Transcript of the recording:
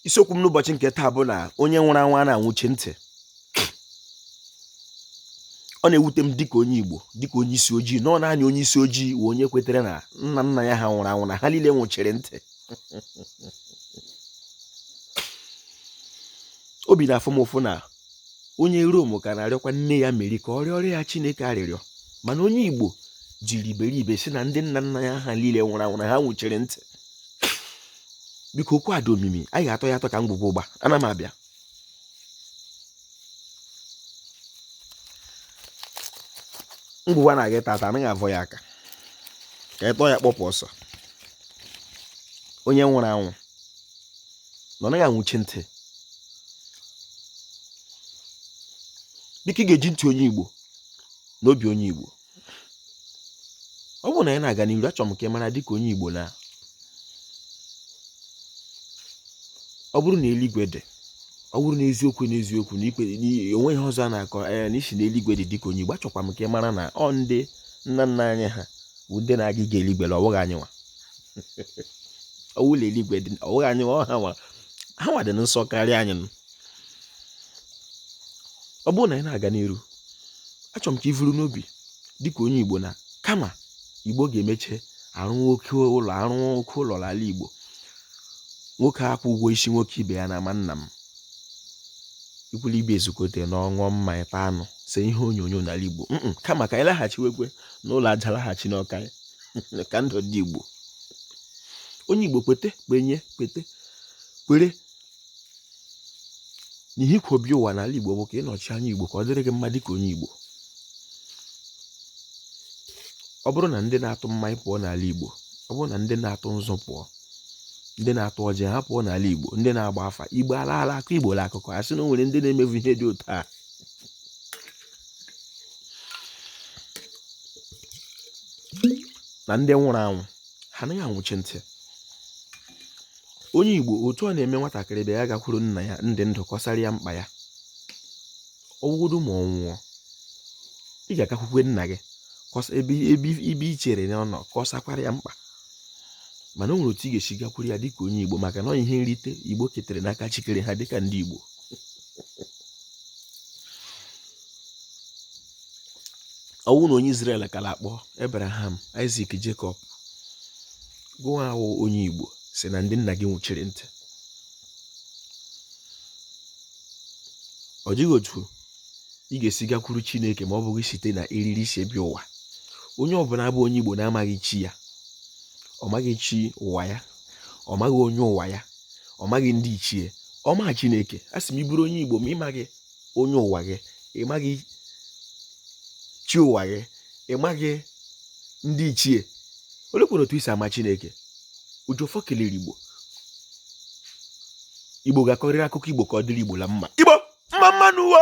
isiokwu m n'ụbọchị nke taa bụ na onye nwụrụ anwụ anaghị anwụchi ntị ọ na-ewute m dịka onye Igbo dịka onye isi ojii na ọ naanị onye isi ojii wụ onye kwetere na nna nna ya ha nwụrụ anwụ na ha niile nwụchiri ntị obi na-afụ m ụfụ na onye rom ka na-arịọkwa nne ya meri ka ọ rịọrọ ya chineke arịrịọ mana onye igbo jiri iberibe sị na ndị nna nna ya ha niile nwụrụ anwụ na ha nwụchiri ntị biko okwu a dị omimi anyị ga-atọ ya atọ ka ngwugwu ụgba ana m abịa ngwugwu a na-aga ịtọ atọ anaghị avọ ya aka ka ịtọ ya kpọpụ ọsọ onye nwụrụ anwụ na ọ naghị anwụchi ntị dịka ị ga-eji ntị onye Igbo na obi onye Igbo ọ bụrụ na anyị na-aga n'iru achọrọ m ka ị mara dịka onye Igbo na ọ bụrụ na eluigwe dị ọ bụrụ na eziokwu na eziokwu na ikpe onweghị ọzọ a na-akọ anya eh, na isi na eluigwe dị dịka onye Igbo achọkwa m ka ị mara na ọ ndị nna nna anyị ha bụ ndị na-aga ịga eluigwe na ọ bụghị anyị nwa ọ wụ na eluigwe dị ọ wụghị anyị ha nwa ha nwa dị nsọ karịa anyị ọ bụrụ na anyị na-aga n'iru achọrọ m ka i vuru n'obi dịka onye igbo na kama igbo ga-emeche arụ nwoke ụlọ arụ nwoke ụlọ n'ala igbo nwoke akwụọ ụgwọ isi nwoke ibe ya na ama nna m ikwu la ibe ezukọta ṅụọ mmanya taa anụ see ihe onyonyo n'ala igbo kama ka anyị laghachiwekwe n'ụlọ aja laghachi n'ụlọ akanya ka ndụ dị Igbo onye Igbo kwete kwenye kwete kwere na ihe i kwo bịa ụwa n'ala Igbo bụ ka ị nọchie anya Igbo ka ọ dịrị gị mma dịka onye Igbo ọ bụrụ na ndị na-atụ mmanya pụọ n'ala Igbo ọ bụrụ na ndị na-atụ nzu pụọ ndị na-atụ ọjị ha pụọ n'ala Igbo ndị na-agba afa Igbo alaala a kọọ Igbo la akụkọ a sị na o nwere ndị na-emevu ihe dị otu a na ndị nwụrụ anwụ ha anaghị anwụchi ntị onye igbo otu ọ na-eme nwatakịrị bịa ya gakwuru nna ya na ndụ kọsara ya mkpa ya ọ wụgodu ma ọ nwụọ ị ga-agakwukwe nna gị ebe i chere na ọ nọ kọsakwara ya mkpa mana o nwere otu ị ga-esi gakwuru ya dịka onye igbo maka na ọ ihe nrite igbo ketere n'aka chi kere ha dịka ndị igbo ọ wụ na onye Izrel ka la-akpọ Abraham Isaac Jacob gụwa wụ onye Igbo sị na ndị nna gị nwụchiri ntị ọ dịghị otu ị ga-esi gakwuru Chineke ma ọ bụghị site na eriri i si bịa ụwa onye ọbụla bụ onye Igbo na-amaghị chi ya ọ maghị chi ụwa ya ọ maghị onye ụwa ya ọ maghị ndị ichie ọ ma chineke a sị m ị bụrụ onye igbo ma ị maghị onye ụwa gị ị maghị chi ụwa gị ị maghị ndị ichie olekwanụ otu i si ama chineke oji ọfọ kelere igbo igbo ga-akọrịrị akụkọ igbo ka ọ dịrị igbo la mma igbo mma mma n'ụwa